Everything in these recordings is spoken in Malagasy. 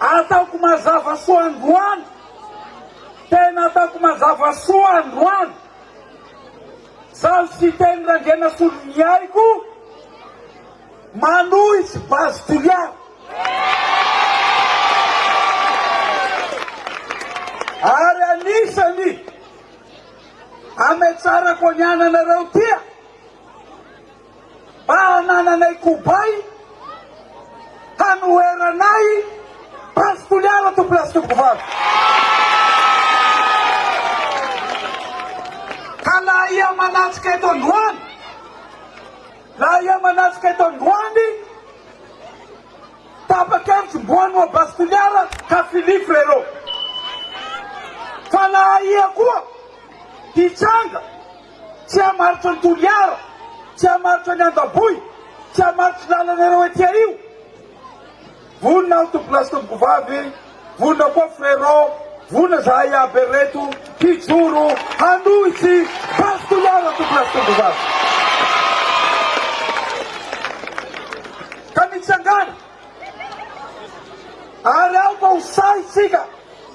Ataoko mazava soa androany, tena ataoko mazava soa androany, Zaho Siteny Randrianasoloniaiko, Manohitsy Base Toliara. Ary anisany hametsarako ny ananareo tia. Mba hanananay kobay hanoheranay Prince Toliara to place tompoko vavy. Ka na aia manatrika eto androany, na aia manatrika eto androany, tapa-kevitry Mboano Abbas Toliara ka Philly Frérot. Fa na aia koa, hitranga. Tsy hamaritra ny Toliara, tsy hamaritra ny Andaboy, tsy hamaritra ny lalanareo ety ario. Vonona aho tompoko lahy sy tompoko vavy, vonona koa frerot, vonona zahay iaby ereto hijoro hanohitsy Base Toliara tompoko lahy sy tompoko vavy. Ka mitsangàna ary aoka ho sahy isika.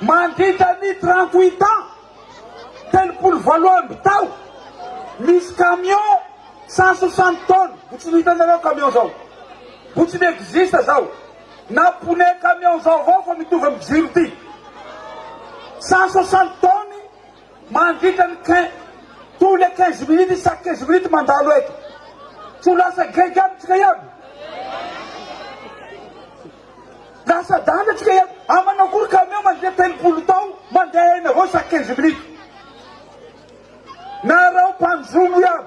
Mandritra ny trente huit ans, telopolo valo amby tao, misy camion cent soixante tonnes, mbo tsy nohitany nareo camion zao, mbo tsy mi-existe zao, na pneu camion zao avao fa mitovy amin'ny jiro ty, cent soixante tonnes, Mandritra ny quin, tous les quinze minutes, chaque quinze minutes mandalo eto. Tsy ho lasa grec aby tsika iaby? Lasa danja tsika iaby. Am manao akory camion mandritra telopolo tao mandeha eny avao chaque quinze minutes. Nareo mpanjono iaby.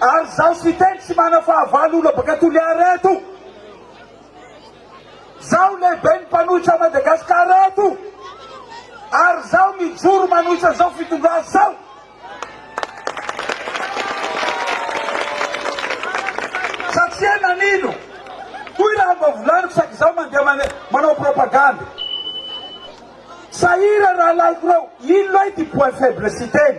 Ary izaho tsy hiteny tsy manafahavalo olona baka Toliara eto. Izaho lehiben'ny mpanohitra Madagascar eto. Ary izaho mijoro manohitra izao fitondrana izao. Satria nanino? Hoy raha mba volaniko saika izaho mandeha mane, manao propagande. Sahira rahalahiko reo, ino loha ity point faible siteny?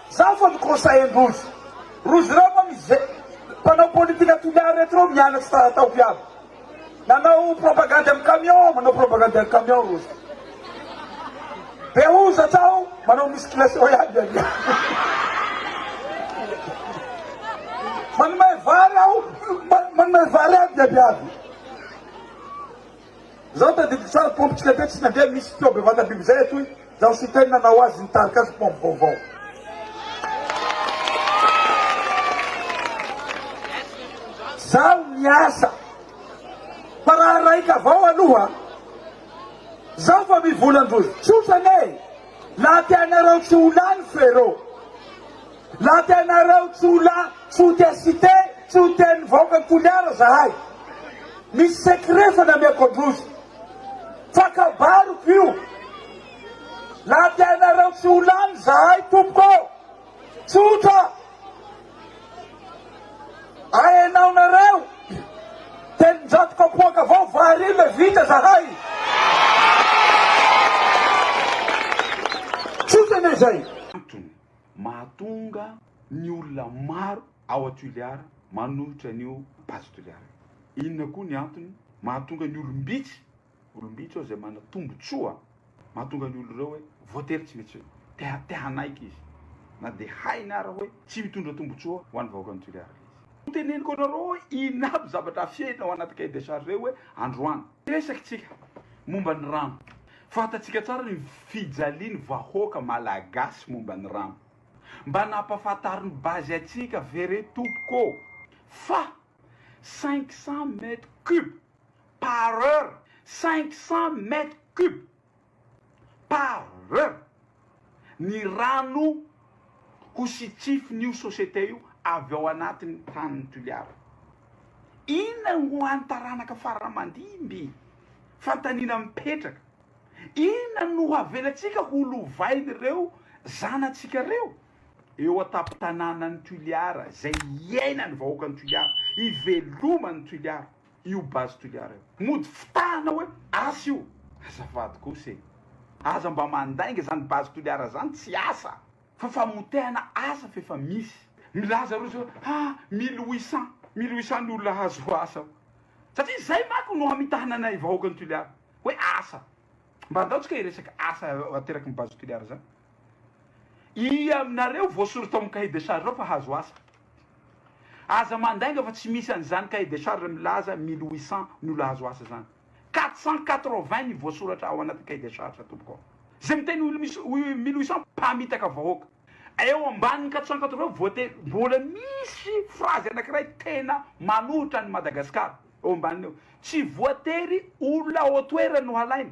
Zany fa ny conseil ndrozy. Rozy reo moa misy ze mpanao politika toliary reto reo mianatry tsara tao viavy. Nanao propagandy am camion, manao propagandy am camion rozy. Be hozatra ao, manao musculation ihany anie. Manome vary ao, manome vary ao ny viavy. Zaho tadidiko tsara pompy tsy lefe tsy nandeha misy feo bevata biby zay atoy zaho sy teny nanao azy nitarika azy pompy vaovao. Zaho miasa fa raha raika avao aloha zaho fa mivola ndrozy tsotra anie laha tianareo tsy ho lany frerot. La tenareo tsy ho la tsy ho tia cité tsy ho tia ny vahoaka toliara zahay misy secret fanamiako androzy fa kabariko io la tenareo tsy ho lany zahay tompoko tsotra ahenao nareo telonjato kapoaka avao vary io le vita zahay tsotra le zay Mahatonga ny olona maro ao Atoliara manohitra an'io Base Toliara io. Inona koa ny antony mahatonga ny olom-bitsy, olom-bitsy ao izay manana tombontsoa, mahatonga ny olona ireo hoe voatery tsy maintsy te hanaiky izy na dia hainy ara hoe tsy mitondra tombontsoa ho an'ny vahoakan'i Toliara ilay izy. Teneniko anareo hoe inona aby zavatra afenina ao anaty cahier de charge hoe androany. Hiresaka tsika momba ny rano. Fantatsika tsara ny fijaliany vahoaka malagasy momba ny rano. Mba nampafataro ny base antsika ve re tompoko ô? Fa cinq cents mètres cubes par heure! Cinq cents mètres cubes! Par. Ny rano ho sitrifin' io sosiete io avy ao anatin' ny tanin' ny Toliara. Inona ho an' ny taranaka farany mandimby? Fanontaniana mipetraka. Inona no havelantsika ho lovain' ireo zanatsika ireo? Eo an-tampon-tanànan' ny Toliara izay hiainan' ny vahoakan' ny Toliara, hiveloman' ny Toliara. io base toliara io. Mody fitahana hoe asa io. Azafady kosa e! Aza mba mandainga izany base toliara izany tsy asa fa famotehana asa fa efa misy. Milaza roso hoe ha mille huit cent mille huit cent ny olona hahazoa asa ao. Satria izay manko no hamitahana anay vahoakan'i Toliara hoe asa. Mba andao tsika hiresaka asa ateraky ny base toliara izany. Iia aminareo voasory tao amin'ny cahier de charge ao fa hahazo asa. Aza mandainga fa tsy misy an'izany cahier de charge milaza mille huit cents ny olona hahazo asa izany. Quatre cent quatre vingt ny voasoratra ao anatin'ny cahier de charge tompoko ao. Izay miteny hoe mille huit cents mpamitaka vahoaka. Eo ambanin'ny quatre cent quatre vingt voatery mbola misy phrase anankiray tena manohitra an'i Madagasikara eo ambaniny eo. Tsy voatery olona ao an-toerana no halaina.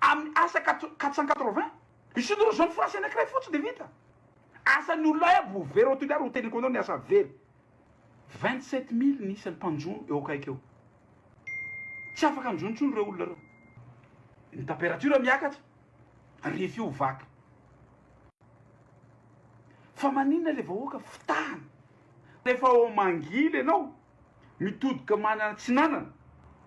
Amin'ny asa quatre cent quatre-vingts, il suffit de rejoindre France anankiray fotsiny dia vita. Asan'ny olona hay aby ho very ao Toliara, ho teniko anao ny asa very. Vingt-sept mille ny isan'ny mpanjono eo akaiky eo. Tsy afaka mijono intsony ireo olona ireo. Ny température miakatra, rifa io vaky. Fa maninona ilay vahoaka fitahana? Rehefa ao Mangily ianao, Mitodika manana atsinanana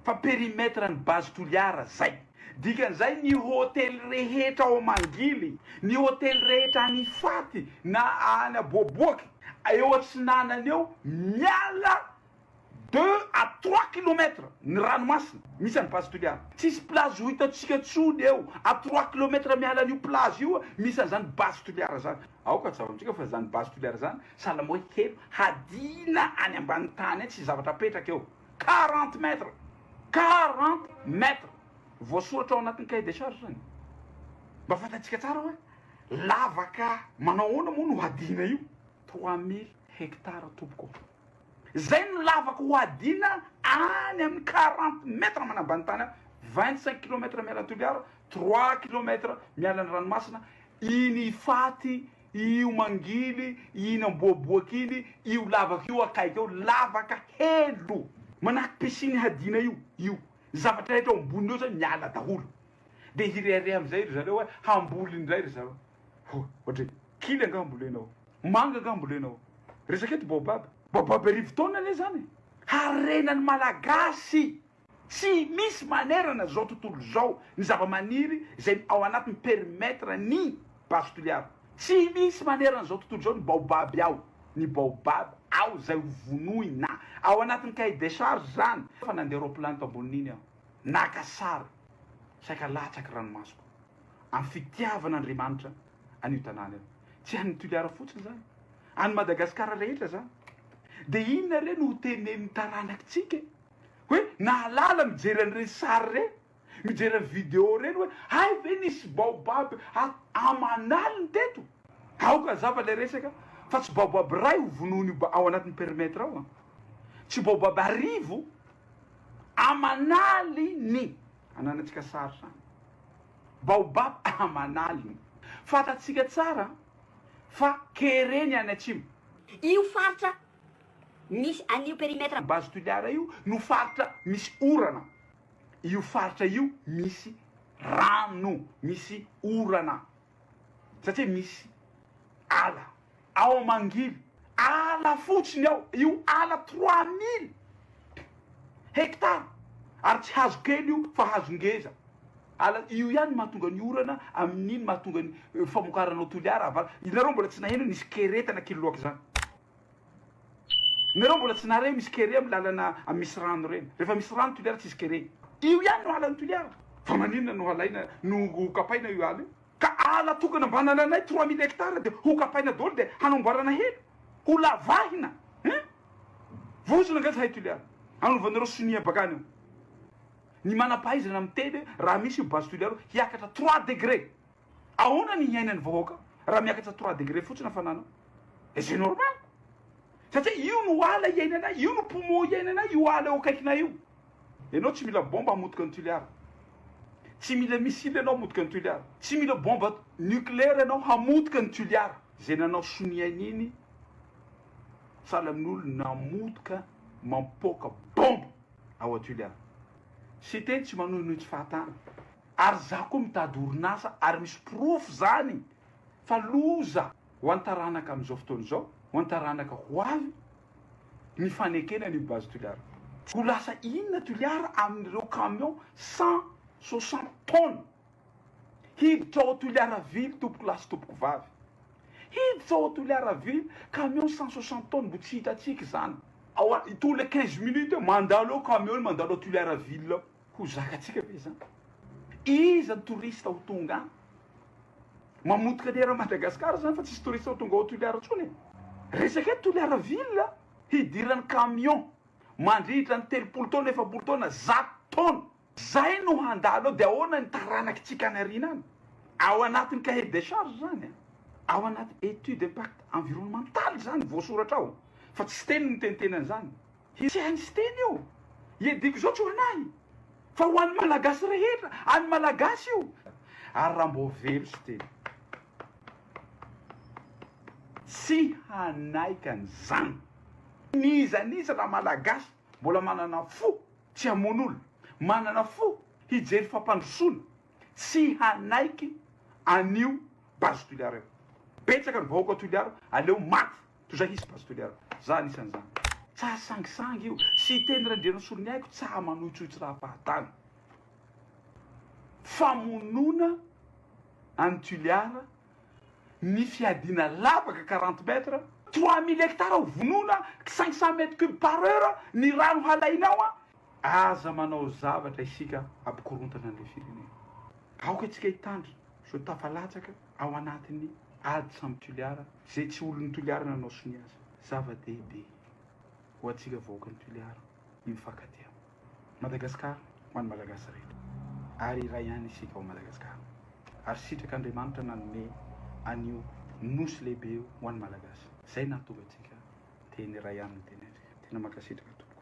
fa perimetre ny base Toliara zay. Dikan'izay ny hotely rehetra ao Mangily, ny hotely rehetra any Ifaty na any Aboaboaky eo atsinanana eo miala deux à trois kilomètre ny ranomasina misy an'i base Toliara. Tsisy plage ho hitantsika tsony eo à trois kilomètre miala an'io plage io misy an'izany base Toliara zany. Aoka tsaroantsika fa zany base Toliara zany Sahala moa i Kelo hadina any ambany tany any tsy zavatra apetraka eo. Quarante mètres! Quarante mètres! Voasoratra ao anatin'ny cahier de charge izany. Mba fantatsika tsara hoe lavaka manao ahoana moa no hadina io. Trois mille hectares tompoko ô! Izay no lavaka ho hadina any amin'ny quarante mètres manambany tany any, vingt cinq kilomètres miala an'i Toliara, trois kilomètres miala ny ranomasina, iny ifaty Io mangily, iny amboaboaka iny, io lavaka io akaiky eo, lavaka helo manahaky piscine hadiana io, io zavatra rehetra ao amboniny eo zany miala daholo, dia hirehareha amin'izay ry zareo hoe hamboly indray ry zareo, ohatra hoe kily angaha ambolenao, manga angaha ambolenao, resaka eto baobab, baobab arivo taona anie zany e, harena ny Malagasy. Tsy misy manerana izao tontolo izao ny zava-maniry izay ao anatin'ny perimetre ny base tuliare. Tsy misy manerana izao tontolo izao ny baobab ao, ny baobab ao izay ho vonoina. Ao anatin'ny cahier des charges izany. Efa nandeha roaplan tao ambonin'iny aho, naka sary, saika latsaky ranomasoko, amin'ny fitiavan' Andriamanitra an'io tanàna io. Tsy an'ny Tuliara fotsiny izany, an'i Madagasikara rehetra izany. Dia inona re no ho tenenin'ny taranakitsika e? hoe nahalala mijery an'ireny sary ireny, mijery an'i video ireny hoe hay ve nisy baobab aman'aliny teto? Aoka hazava ilay resaka fa tsy baobab iray ho vonoin'io ao anatin'ny perimetre ao an! Tsy baobab arivo aman'aliny ananantsika sary izany. Baobab aman'aliny. Fantatsika tsara fa kere ny any atsimo. Io faritra misy an'io perimetre. Base Toliara io no faritra misy orana, io faritra io misy rano, misy orana satria misy ala ao Mangily, ala fotsiny ao, io ala trois mille hectares ary tsy hazo kely io fa hazo ngeza. Ala, io ihany no mahatonga ny orana, amin'iny mahatonga ny famokarana ao Toliara, Avala. Ianareo mbola tsy naheno nisy kere tana Kiloloaky zany? Ianareo mbola tsy nahare misy kere amin'ny lalana amin'ny misy rano ireny? Rehefa misy rano Toliara tsisy kere. Io ihany no alan'i Toliara. Fa maninona no halaina, no ho kapaina io ala io? Ka ala tokana mba analanay trois mille hectares dia ho kapaina daholo dia hanamboarana helo? Ho lavahina hein? Vozona nga zahay Toliara, hanovanareo sonia bakany ao. Ny manampahaizana miteny hoe raha misy io base tulialo hiakatra trois degre ahoana ny hiainan'ny vahoaka raha miakatra trois degre fotsiny hafanana et c'est normal satria io no ala hiainanay io no poumon hiainanay io ala eo akaikinay io ianao tsy mila bomba hamotika ny tulialo tsy mila missile ianao hamotika ny tulialo tsy mila bomba nucléaire ianao hamotika ny tulialo izay nanao sonia iny sahala amin'olona namotika mampoaka bomba ao Atulia. Siteny tsy manohinohy tsy fahatany. Ary za koa mitady orinasa ary misy porofo zany fa loza ho an taranaka amizao fotoana izao, ho an taranaka ho avy ny fanekena anio base Toliara. Ho lasa inona Toliara aminireo camion cent soixante tonnes? Hiditra ao Toliaravily tompoko lahy sy tompoko vavy. Hiditra ao Toliaravily camion cent soixante tonnes mbo tsy hitantsika izany. Ao an tous les quinze minutes mandalo ao camion mandalo ao Toliaravily ao. Ho zakantsika ve izany? Iza ny touriste ho tonga any? Mamotika ny eran'i Madagasikara izany fa tsisy touriste ho tonga ao Toliara intsony e. Resaka eto Toliaravily hidiran'ny camion mandritra ny telopolo taona efapolo taona zato taona. Zay no handalo eo de ahoana ny taranakitsika any arina any? Ao anatin'ny cahier des charges zany an! Ao anaty étude impact environnemental zany voasoratra ao fa tsy siteny miteniteny an'izany! Tsy hain'i siteny io! Iadiako izao tsy ho an'ahy fa ho an'ny malagasy rehetra! An'ny malagasy io! Ary raha mbô very siteny tsy hanaika an'izany! N'iza n'iza raha malagasy Mbola manana fo tsy hamono olona, manana fo hijery fampandrosoana, tsy hanaiky an'io base Toliara io. Betsaka ny vahoaka ao Toliara, aleo maty toy izay hisy base Toliara. Za anisan'izany. Tsaha sangisangy io, sy hiteny Randrianasoloniaiko tsaha manoitsoitsy raha fahatany. Famonoana an'i Tuliara. ny fiadiana lavaka quarante mètre, trois mille hectares ho vonoina, cinq cent mètres cubes par heure ny rano halainao an! Aza manao zavatra isika hampikorontana an'ilay firenena. Aoka antsika hitandrina izao tafalatsaka ao anatin'ny ady samy Toliara izay tsy olon'ny Toliara nanao sonia azy. Zava-dehibe ho antsika vahoakan'i Toliara. ny mifankatia. Madagascar ho an'ny Malagasy rehetra ary iray ihany isika ao Madagascar ary sitraka Andriamanitra nanome an'io Nosy lehibe io ho an'ny Malagasy zay nahatonga antsika teny iray ihany ny teny antsika. Tena mankasitraka tompoko.